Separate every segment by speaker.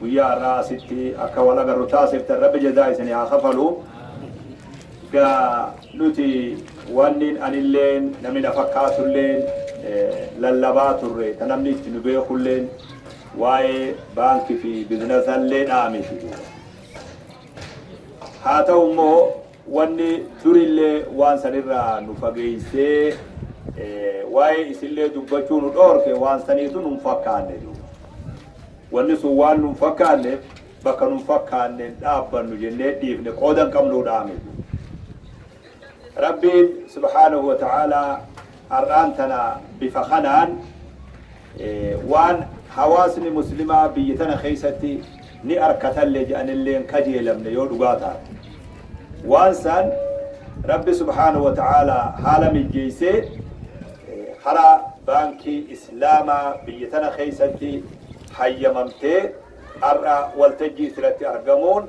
Speaker 1: Guyyaa har'aa asitti akka wal agarru taasiftan rabbi jazaa isinii haa kafalu. Gaa nuti wanni anilleen namni na fakkaatulleen lallabaa turre ta namni itti nu beekulleen waa'ee baankii fi bizinazalleedhaa miti. Haa ta'u immoo Wanni durillee waan san irraa nu fageessee waa'ee isillee dubbachuu nu dhoorke waan saniitu nun fakkaanne duuba. Wanni sun waan nun fakkaanneef bakka nun fakkaannen dhaabbannu jennee dhiifne qooda hin qabnuu dhaame duuba. Rabbiin subhaanahu wa ta'aalaa har'aan tana bifa kanaan waan hawaasni muslimaa biyyi tana keessatti ni arkatalle je'anillee hin kajeelamne yoo dhugaa taate. Waan san Rabbi subhaanahu wa ta'aalaa haala mijjeessee karaa baankii islaamaa biyya tana keessatti hayyamamtee har'a waltajjii itti irratti argamuun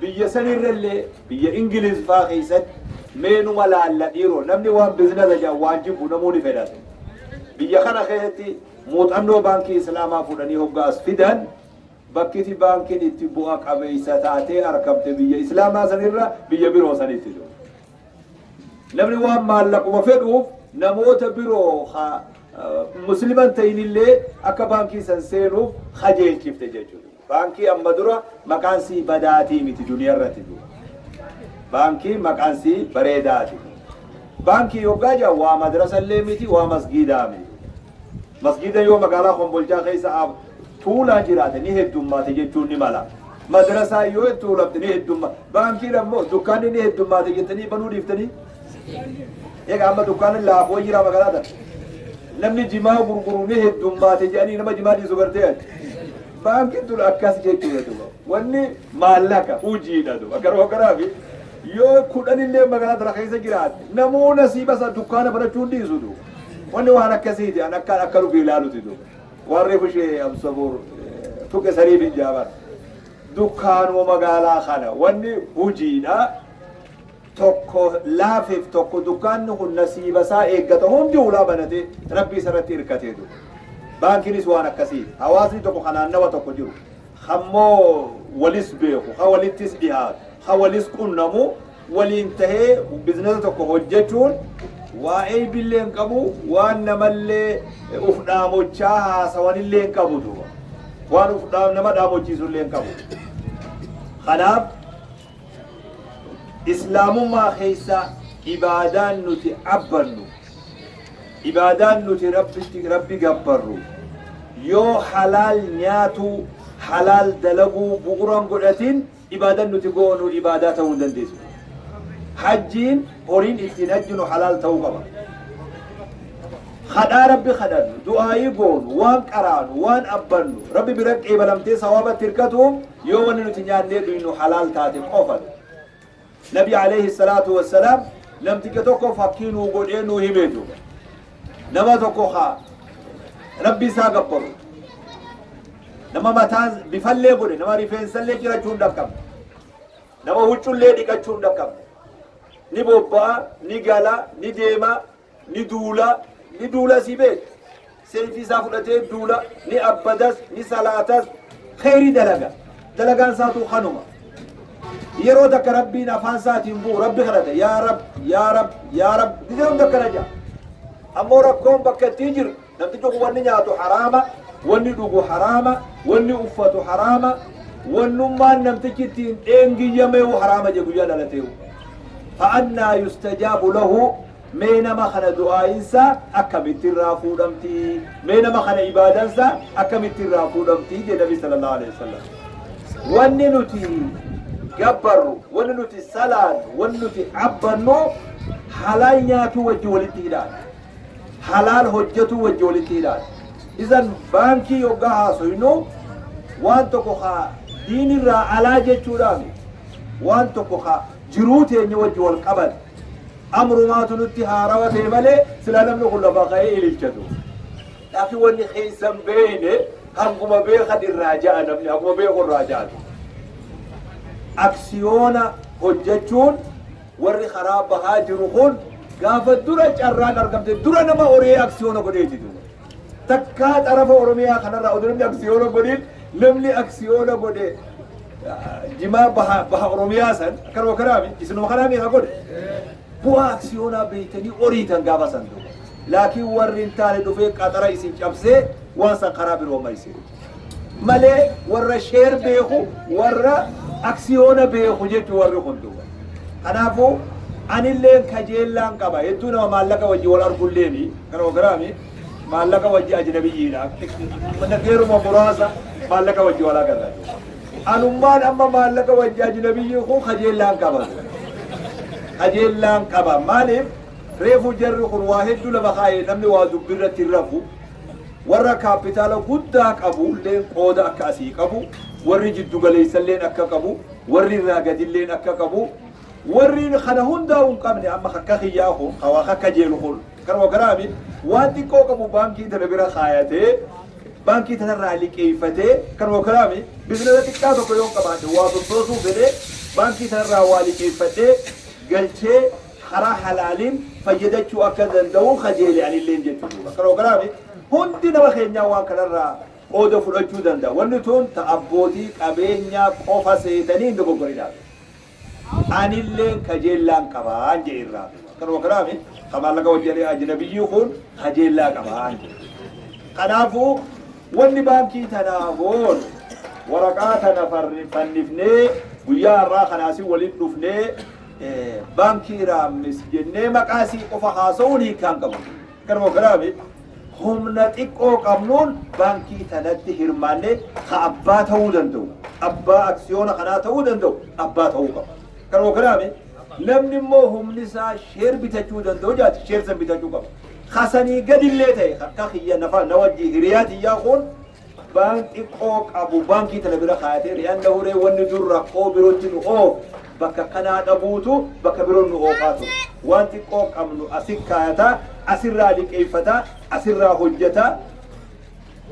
Speaker 1: Biyya san irra illee biyya Ingiliiz faa keessatti mee numa laalla dhiiroo namni waan bizinasa jedhan waan jibbu namuu ni fedhata. Biyya kana keessatti muuxannoo baankii Islaamaa fudhanii hoggaa as fidan bakkiti baankiin itti bu'a qabeessa taatee argamte biyya Islaamaa san irra biyya biroo sanitti jiru. Namni waan maallaquma fedhuuf namoota biroo haa musliman ta'inillee akka baankii san seenuuf kajeelchifte jechuudha. Baankii amma dura maqaan sii badaatii miti duniyarrati du baankii maqaan sii bareedaati baankii yoggaa jedhan waa madrasa illee miti waa masgiidaa mi masgiidan yoo magaalaa kombolchaa keessa ab tuulaan jiraate ni heddummaate jechuun ni mala madrasaa yoo itti tuulamte ni heddumma baankiin ammoo dukkaanni ni heddummaate jettanii banuu dhiiftanii eega amma dukkaanni laafoo jira magaalaa tana namni jimaa gurguru ni heddummaate jedhanii nama jimaa dhiisu gartee ati Baankiin tun akkas jechuudha duuba. Wanni maallaqa hujiidha duuba. Akka roogaraafi yoo kudhan illee magaalaa tana keessa jiraatte namuu nasiiba isaa dukkaana banachuu hin dhiisu duuba. Wanni waan akkasiiti an akka akka dhufee ilaaluti duuba. Waan reefu ishee Abdusabuur tuqe saniif hin jaaban. Dukkaanuma magaalaa kana wanni hujiidha. tokko laafeef tokko dukkaanni kun nasiiba isaa eeggata hundi hulaa banatee rabbii isarratti hirkatee ture. Baankinis waan akkasiiti. Hawaasni tokko kan naannawa tokko jiru kammoo walis beeku, ka walittis dhihaatu, ka walis qunnamu waliin tahee bizinesa tokko hojjechuun waa eeybillee hin qabu, waan namallee uf dhaamochaa haasawanillee hin qabu duuba. Waan uf dhaam nama dhaamochiisullee hin qabu. Kanaaf Islaamummaa keessa ibaadaan nuti abbannu, ibaadaan nuti Rabbitti, Rabbi gabbarru, yoo halaal nyaatuu, halaal dalaguu bu'uura hin godhatin ibaadan nuti goonu ibaadaa ta'uu hin dandeessu. Hajjiin horiin ittiin hajjinu halaal ta'uu qaba. Kadhaa Rabbi kadhannu, du'aayii goonu, waan qaraanu, waan abbannu, Rabbi bira qeebalamtee sawaabatti hirkatuuf yoo wanni nuti nyaannee dhuynu halaal taate qofan. Nabi alayhi salaatu wassalaam namticha tokko fakkii nuu godhee nuu himee duuba. Nama tokko haa Rabbi isaa gabbaru. Nama mataan bifallee godhe, nama rifeensallee cirachuu hin dhaqqabne. Nama huccullee dhiqachuu hin dhaqqabne. Ni bobba'a, ni gala, ni deema, ni duula, ni duula sii beektu. Seeyfii isaa fudhatee duula, ni abbadas, ni salaatas, kheyrii dalaga. Dalagaan isaatuu kanuma. Yeroo takka Rabbiin afaan isaatiin bu'u Rabbi kadhata. Yaa Rabbi, yaa Rabbi, yaa Rabbi. Gizee hunda akkana jedha. Ammoo rakkoon bakka ittiin jiru Namtichi kun wanni nyaatu haraama, wanni dhugu haraama, wanni uffatu haraama, wannummaan namtichi ittiin dheengiyyameu haraama je guyyaa dhalateu. Fa'annaa yustajaabu lahu mee nama kana du'aayinsa akkamitti irraa fuudhamti? Mee nama kana ibaadansa akkamitti irraa fuudhamti? je Nabi sallallahu alaihi wasallam. Wanni nuti gabbarru, wanni nuti salaannu, wanni nuti abbannu halaal nyaatuu wajji walitti hidhaadha. halaal hojjatuu wajji walitti hidhaadha. Izan baankii yoggaa haasoynu waan tokko ka diinirraa alaa jechuudhaa miti. Waan tokko ka jiruu teenya wajji wal qabate. Amrumaatu nutti haarawa ta'e malee silaa namni kun lafaa ka'ee ililcha ture. Laakiin wanni keessa hin beeyne hanguma beekan irraa ja'a namni hanguma beeku irraa ja'a ture. Aksiyoona hojjachuun Warri karaa bahaa jiru kun gaafa dura carraan argamte dura nama horee aksiyoona godheeti jiru. Takkaa xarafa Oromiyaa kanarraa oduu namni aksiyoona godhin namni aksiyoona godhe jimaa baha, baha Oromiyaa san akkanuma kanaami isinuma kanaa meeqa godhe. Bu'aa aksiyoonaa beektanii horiitan gaafa san duuba. Laakiin warri hin taane dhufee qaxara isin cabsee waan san karaa biroo maysee. malee warra sheer beeku warra aksiyoona beeku jechu warri kun duuba. Kanaafuu anillee kajeellaan qaba hedduu nama maallaqa wajji wal argulleeni kan ogiraami maallaqa wajji ajnabiyyiidha yeruma muraasa maallaqa wajji wal agarra. Anummaan amma maallaqa wajji ajnabiyyii kun kajeellaan qaba. Kajeellaan qaba maaliif reefu jarri kun waa hedduu lafa kaa'e namni waa dubbirratti hin rafu. Warra kaappitaala guddaa qabuulleen qooda akka asii qabu, warri jiddugaleessalleen akka qabu, warri irraa gadilleen akka qabu, warri kana hundaa'uu hin qabne amma akka kiyyaa kun ka waa kakkajeelu kun kanuma garaami waan xiqqoo qabu baankii tana bira kaayatee baankii tanarraa liqeeffatee kanuma garaami bizinasa xiqqaa tokko yoo qabaadhe waa sossoosuu fedhee baankii tanarraa waa liqeeffadhee galchee karaa halaaliin fayyadachuu akka danda'uu kajeele anilleen jechu duuba kanoo kanaafi hundi nama keenyaa waan kanarraa qooda fudhachuu danda'a wanni tuun ta abbootii qabeenyaa qofa seetanii hin dogoggorinaa jedhe anilleen kajeellaan qabaan jedhe irraa duuba kanuma kanaafi ka maallaqa wajjiree ajnabiyyii kun kajeellaa qabaan jedhe kanaafuu wanni baankii tanaa goonu waraqaa tana farri- fannifnee guyyaa har'aa kanaasin waliin dhufnee Baankii Raammis jennee maqaa isii qofa haasa'uun hiikkaa hin qabu. Garuu karaa mi humna xiqqoo qabnuun baankii tanatti hirmaannee ka abbaa ta'uu danda'u, abbaa aksiyoona kanaa ta'uu danda'u abbaa ta'uu qaba. Garuu karaa mi namni immoo humni isaa sheer bitachuu danda'u jaati sheer san bitachuu qaba. Kasanii gadillee ta'e akka kiyya nafa na wajji hiriyaa tiyyaa kun Bank xiqqoo qabu bankii tana bira kaayatee li'annahu ree wanni dur rakkoo birotti nu oofu bakka akkanaa dhabuutu bakka biroon nu oofaa ture. Waan xiqqoo qabnu asi kaayata, asirraa liqeeffata, asirraa hojjata,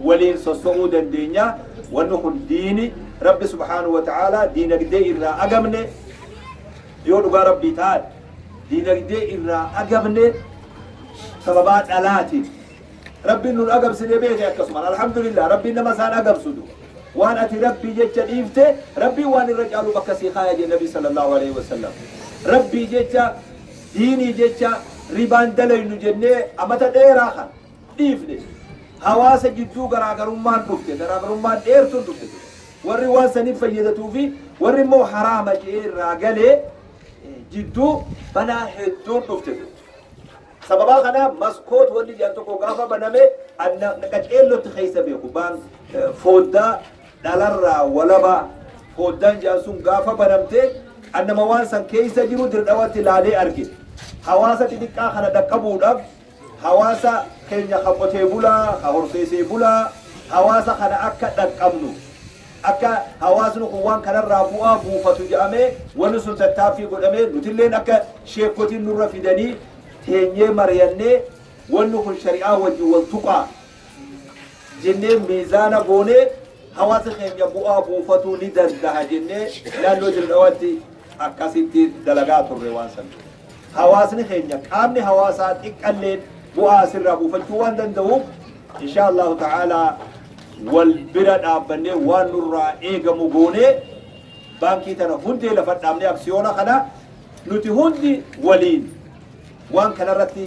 Speaker 1: waliin sosso'uu dandeenya. Wanni kun diini Rabbi subhaanahu wa ta'aalaa diinagdee irraa agamne yoo dhugaa Rabbii taate diinagdee irraa agamne sababaa dhalaatiin Rabbiin nun agabsine beeke akkasumaan alhamdulillah Rabbiin nama isaan agabsu duba waan ati Rabbii jecha dhiifte Rabbiin waan irra caalu bakka sii kaaya jee Nabii sallallahu alaihi wasallam Rabbii jecha diinii jecha ribaan dalaynu jennee amata dheeraa kan dhiifne hawaasa jidduu garaagarummaan dhufte garaagarummaan dheertuun dhufte duba warri waan saniif fayyadatuu fi warri immoo haraama jee irraa galee jidduu balaa hedduun dhufte duba Sababaa kanaaf maskoot wanni jedhan tokko gaafa baname an na- na qaceellotti keessa beeku baan eh, fooddaa dhalarraa walaba fooddaan jedhan sun gaafa banamte an nama waan san keessa jiru dirdhawatti laalee arge hawaasa xixiqqaa kana dhaqqabuudhaaf hawaasa keenya ka qotee bulaa ka horseesee bulaa hawaasa kana akka dhaqqabnu Akka hawaasni kun waan kanarraa bu'aa buufatu jedhamee wanni sun tattaaffii godhamee nutilleen akka sheekkotiin nurra fidanii teenyee mariyannee wanni kun shari'aa wajjin wal tuqaa jennee miizaana goonee hawaasa keenya bu'aa buufatuu ni dandaha jennee naannoo Dirre Dhawaatti akkasitti dalagaa turre waan san. Hawaasni keenya qaamni hawaasaa xiqqalleen bu'aa asirraa buufachuu waan danda'uuf inshaa Allahu ta'aalaa wal bira dhaabbannee waan nurraa eegamu goonee baankii tana hundee lafa dhaabnee aksiyoona kana nuti hundi waliin waan kanarratti